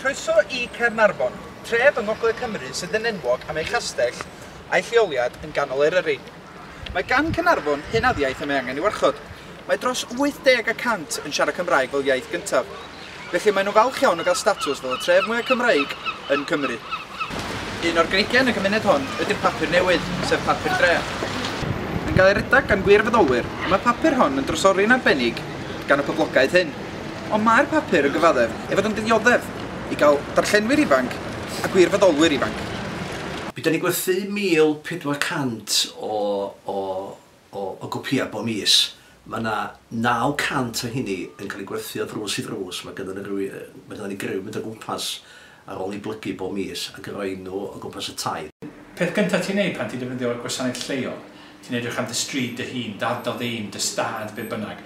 Croeso i Caernarfon, tref yng ngogledd Cymru sydd yn enwog am ei chastell a'i lleoliad yn ganol Eryri. Mae gan Caernarfon hunaniaeth y mae angen ei warchod. Mae dros 80 y cant yn siarad Cymraeg fel iaith gyntaf, felly maen nhw'n falch iawn o gael statws fel y tref mwyaf Cymreig yn Cymru. Un o'r greigiau yn y cymuned hon ydy'r papur newydd, sef papur dreth. Yn cael ei redeg gan wirfoddolwyr, y mae papur hon yn drysori'n arbennig gan y poblogaeth hŷn. Ond mae'r papur yn gyfaddef ei fod yn ddioddef i gael darllenwyr ifanc a gwirfoddolwyr ifanc. Mi dan ni'n gwerthu 1,400 o gopïau bob mis. Mae yna 900 o heini yn cael eu gwerthu o ddrws i ddrws. Mae gynnon ni griw yn mynd o gwmpas ar ôl i blygu bob mis ac roi nhw o gwmpas y tŷ. Peth gyntaf ti'n neud pan ti'n defnyddio'r gwasanaeth lleol, ti'n edrych am dy stryd dy hun, dy ardal dy un, dy stad, be bynnag.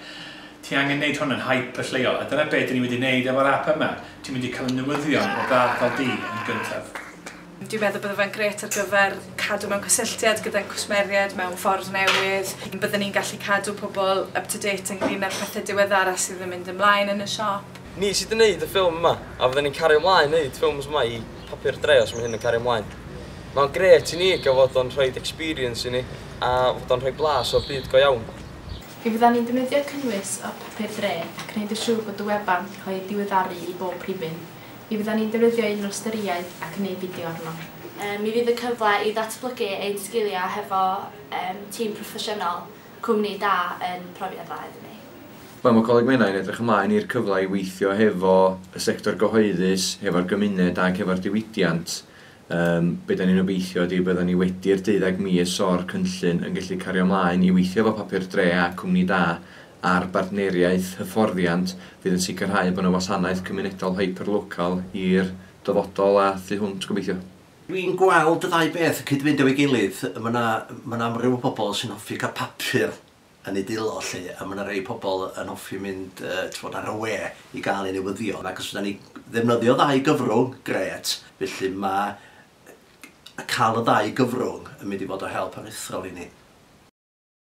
Ti angen neud hwn yn hype y lleol, a dyna be dyn ni wedi neud efo'r ap yma, ti'n mynd i cael y newyddion o dy ardal di yn gyntaf. Dwi'n meddwl bydde fe'n grêt ar gyfer cadw mewn cysylltiad gyda'n cwsmeriaid mewn ffordd newydd. Bydden ni'n gallu cadw pobl up to date ynglŷn â'r pethe diweddara sydd yn mynd ymlaen yn y siop. Ni sydd yn neud y ffilm yma, a fydden ni'n cario mlaen neud ffilms yma i Papur Dre os mae hyn yn cario mlaen. Mae o'n grêt i ni gael fod o'n rhoid experience i ni a fod o'n rhoi blas o'r byd go iawn. Mi fyddan ni'n defnyddio cynnwys o Papur Dre ac yn neud yn siŵr bod y wefan yn cael ei diweddaru i bob rhifyn. Mi fyddan ni'n defnyddio un o'r storyau ac yn neud fideo arno. Mi fydd y cyfle i ddatblygu ein sgiliau hefo tîm proffesiynol. Cwmni da yn profiad dda iddyn ni. Wel, mae Coleg Menai yn edrych ymlaen i'r cyfle i weithio hefo y sector gyhoeddus, hefo'r gymuned ac hefo'r diwydiant. Yym, be dan ni'n obeithio ydy byddan ni wedi'r deuddeg mis o'r cynllun yn gallu cario ymlaen i weithio efo Papur Dre a Cwmni Da ar bartneriaeth hyfforddiant fydd yn sicrhau bod 'na wasanaeth cymunedol hyper-local i'r dyfodol a thu hwnt, gobeithio. Dwi'n gweld y ddau beth yn cyd-fynd efo'i gilydd. Mae 'na, mae 'na amryw o bobl sy'n hoffi cael papur yn eu dwylo 'lly, a mae 'na rei pobl yn hoffi mynd, yy, t'mod, ar y we i gael eu newyddion, ac os fyddan ni ddefnyddio ddau gyfrwng, grêt, felly ma' yy cael y ddau gyfrwng yn mynd i fod o help aruthrol i ni.